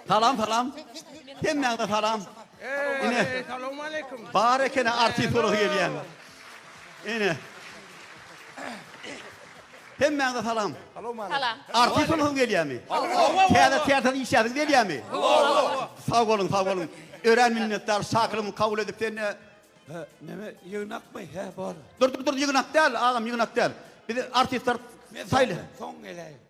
Salam salam. Hemmäňize salam. Ine. Assalamualeykum. Bar ekene artist bolup gelýän. Ine. Hemmäňize salam. Salam. Artist bolup gelýärmi? Täze täze işläsiň gelýärmi? Sag boluň, sag boluň. Örän minnetdar şakyrymy kabul edip sen e, Näme ýygnakmy? He, bar. Dur dur dur ýygnak däl agam ýygnak däl. Biz artistler saýly. Soň geleýin.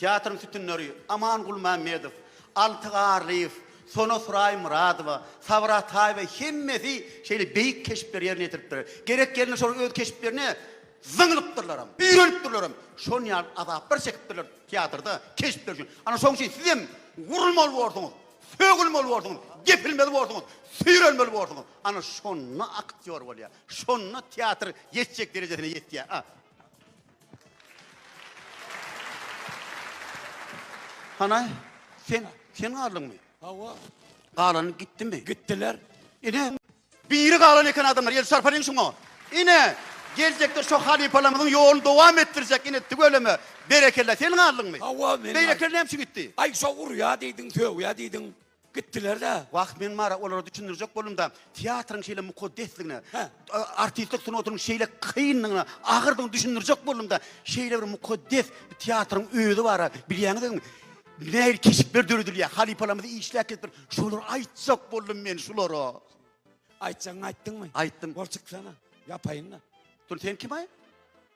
Teatryň sütünleri, Aman Gulmämmedow, Alty Garlyýew, Sona Suraý Myradowa, Sabyr Ataýewa hemmesi şeýle beýik keşpleri ýerine ýetiripdir. Gerek ýerinde şol öz keşplerine zyňlypdyrlaram, üýrenipdirlerem. Şon ýaly azaplar çekipdirler teatrda keşpler üçin. Ana şoň üçin sizem gurulmaly borsuňyz, sögülmeli borsuňyz, depilmeli borsuňyz, süýrenmeli borsuňyz. Ana şonda aktýor bolýar. Şonda teatr ýetjek derejesine ýetýär. A. Hana, sen, sen galdyňmy? Hawa. Galan gitdimi? Gitdiler. Ine, biri galan eken adamlar, el çarpalyň şuňa. Ine, geljekde şu halypalarymyzyň ýoluny dowam etdirjek, ine, tüweleme, berekella, sen galdyňmy? Hawa, men. Beýlekiler näme üçin gitdi? Aý, şo urýa diýdiň, sögýä diýdiň. Gitdiler-de. Wah, men Mara olara düşündirjek boldum-da, teatryň şeýle mukaddesligine, Hä. artistlik sungatynyň şeýle kynlygyna, agyrdygyna düşündirjek boldum-da, şeýle bir mukaddes bir teatryň özi bar-a, bilýäňizmi? Nähili keşpler döredilýär, halypalarymyz işläp gelipdir, şolary aýtjak boldum men şulara. Aýtjagyňy aýtdyňmy? Aýtdym. Bol, çyksana, ýapaýyn-da. Dur, sen kim-aý?